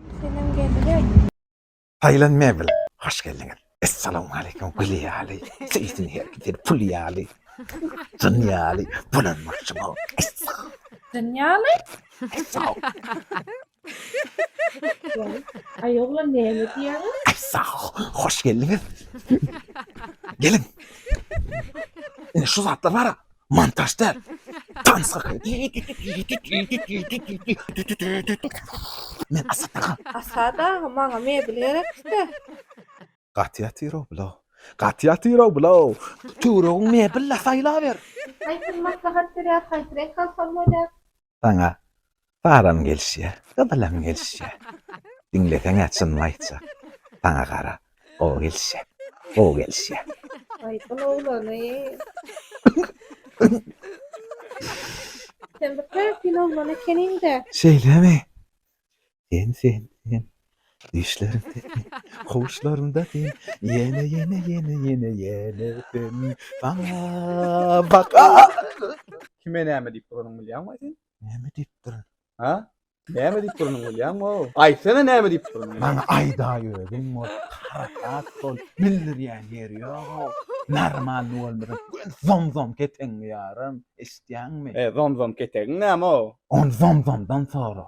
Selam geldi. Tayland Mebel, hoş geldiniz. Esselamu aleyküm, gül ýaly, seýsin herkese, pul ýaly, jyn ýaly, bulanmakçy bol. Jyn ýaly? Sag, Ay oğlan ne mi diýýäňiz? sag, hoş geldiniz. Gelin. Ine şu zatlar var ha, Montaž däl. Tans kakam. Men Asat aga. Asat aga, maňa mebel gerekdi. Gaty ýatyr-ow bula. Gaty ýatyr-ow bula. Töweregiň mebel-la saýlaber. Haýsyny maslahat berýär, haýsy reňk alsam bolýar? Saňa Saram gelişýär, Gyzylam gelişýär. Diňleseň-ä çynymy aýtjak. Saňa gara, gowy gelişýär, gowy gelişýär. Aýdyň oglany. Sen bir täsin oglan ekeniň-dä. Şeýlemi? Sen sen sen Düşlerim sen Huşlarymda sen Ýene ýene ýene ýene ýene sen Saňa bak Kime näme diýip duranyny bilýäňmi sen? Näme diýip durun? Ha? Näme diýip duranyny bilýäňmi? Aýtsana näme diýip duranyny? Maňa aýdaý özüň bol. Harakat bol. Bildirýän ýeri ýok. Normalny bolmasa göni zomzom ketegiňi ýararyn. Eşitýäňmi? E zomzom ketegiň näme? Ony zomzomdan sora.